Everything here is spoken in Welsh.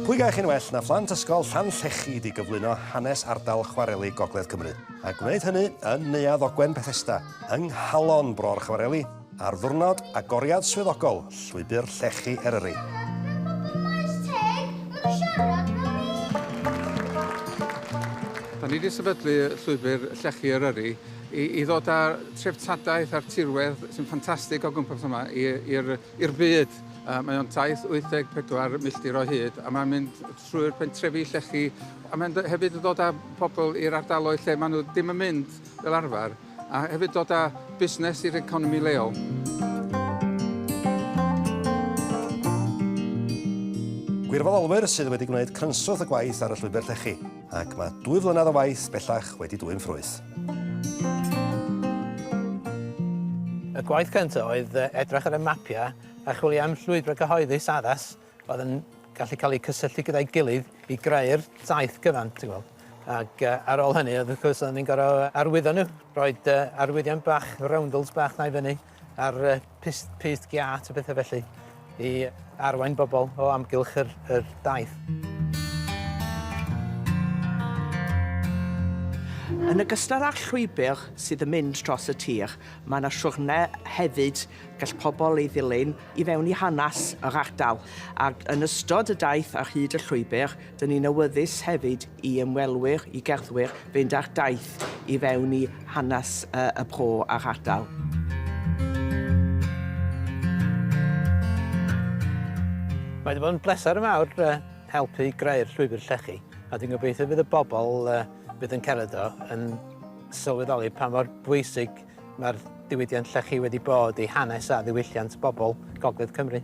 Pwy gaech yn well na phlant ysgol Llanllechid i gyflwyno hanes ardal chwareli Gogledd Cymru, a gwneud hynny yn Neuadd Ogwen Bethesda, yng nghalon bro'r chwareli, ar ddiwrnod agoriad swyddogol Llwybr Llechi Eryri. Da ni 'di sefydlu Llwybr Llechi Eryri i i ddod â treftadaeth a'r tirwedd sy'n ffantastig o gwmpas yma i i'r i'r byd. Yy mae o'n taith 84 milltir o hyd a mae'n mynd trwy'r pentrefi llechi a mae'n dy- hefyd yn dod â pobl i'r ardaloedd lle maen nhw ddim yn mynd fel arfer a hefyd dod â busnes i'r economi leol. Gwirfoddolwyr sydd wedi gwneud crynswth y gwaith ar y llwybr llechi. Ac mae dwy flynedd o waith bellach wedi dwyn ffrwyth. Y gwaith cyntaf oedd edrych ar y mapiau a chwilio am llwybrau cyhoeddus addas oedd yn gallu cael eu cysylltu gyda'i gilydd i greu'r taith gyfan, ti'n gweld. Ac uh, ar ôl hynny, oedd wrth gwrs, oedden ni'n gorau arwyddo nhw, roed uh, arwyddion bach, roundels bach na i fyny, a'r pyst, pyst giât a bethau felly i arwain bobl o amgylch yr, yr daith. Yn ogystal â'r llwybr sydd yn mynd dros y tir, mae yna siwrne hefyd gall pobl ei ddilyn i fewn i hanes yr ardal, ac yn ystod y daith ar hyd y llwybr, Dyn ni'n awyddus hefyd i ymwelwyr, i gerddwyr, fynd ar daith i fewn i hanes y Bro a'r ardal. Mae wedi bod yn bleser mawr helpu greu'r llwybr llechi a dwi'n gobeithio bydd y bobl fydd yn cerdded o yn sylweddoli pa mor bwysig Mae'r diwydiant llechi wedi bod i hanes a ddiwylliant bobl Gogledd Cymru.